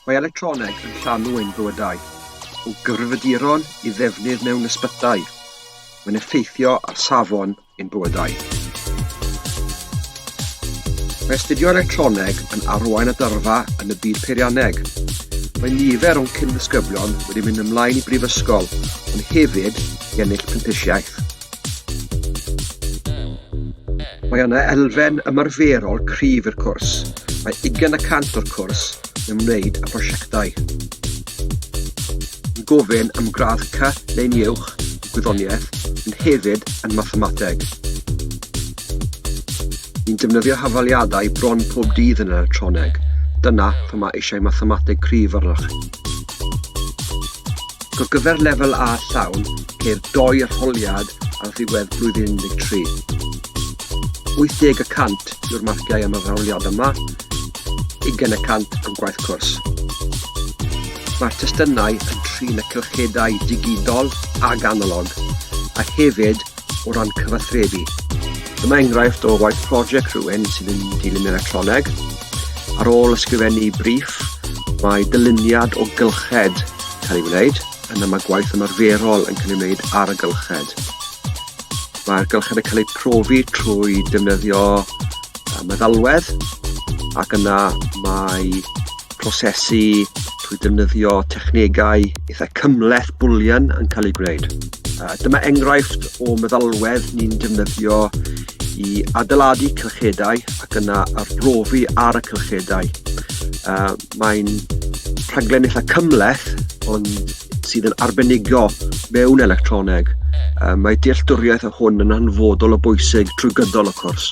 Mae electroneg yn llanw ein bywydau, o gyfrifiaduron i ddefnydd mewn ysbytai, mae'n effeithio ar safon ein bywydau. Mae astudio electroneg yn arwain at yrfa yn y byd peirianneg. Mae nifer o'n cyn-ddisgyblion wedi mynd ymlaen i brifysgol, ond hefyd i ennill prentisiaeth. Mae yna elfen ymarferol cryf i'r cwrs. Mae 20 y cant o'r cwrs yn ymwneud â prosiectau. Yn gofyn am gradd C neu'n uwch yn gwyddoniaeth, ond hefyd yn mathemateg. Ni'n defnyddio hafaliadau bron pob dydd yn yr adroneg. Dyna pam mae eisiau mathemateg cryf arnoch chi. Ar gyfer lefel A llawn, ceir doi arholiad ar ddiwedd blwyddyn 13. 80 y cant yw'r marciau am yr arholiad yma, ugain y cant am gwaith cwrs. Mae'r testunau yn trin y cylchedau digidol ac analog, a hefyd o ran cyfathrebu. Dyma enghraifft o waith prosiect rhywun sydd yn dilyn electroneg. Ar ôl ysgrifennu briff, mae dyluniad o gylched cael ei wneud, yna mae gwaith ymarferol yn cael ei wneud ar y gylched. Mae'r gylched yn cael eu profi trwy defnyddio meddalwedd ac yna mae prosesu trwy ddefnyddio technegau eitha cymleth bwlian yn cael ei gwneud. Uh, dyma enghraifft o meddalwedd ni'n defnyddio i adeiladu cylchedau ac yna arbrofi ar y cylchedau. Uh, Mae'n rhaglen eitha cymleth ond sydd yn arbenigo mewn electroneg. Uh, mae dealltwriaeth o hwn yn hanfodol o bwysig trwy gydol y cwrs.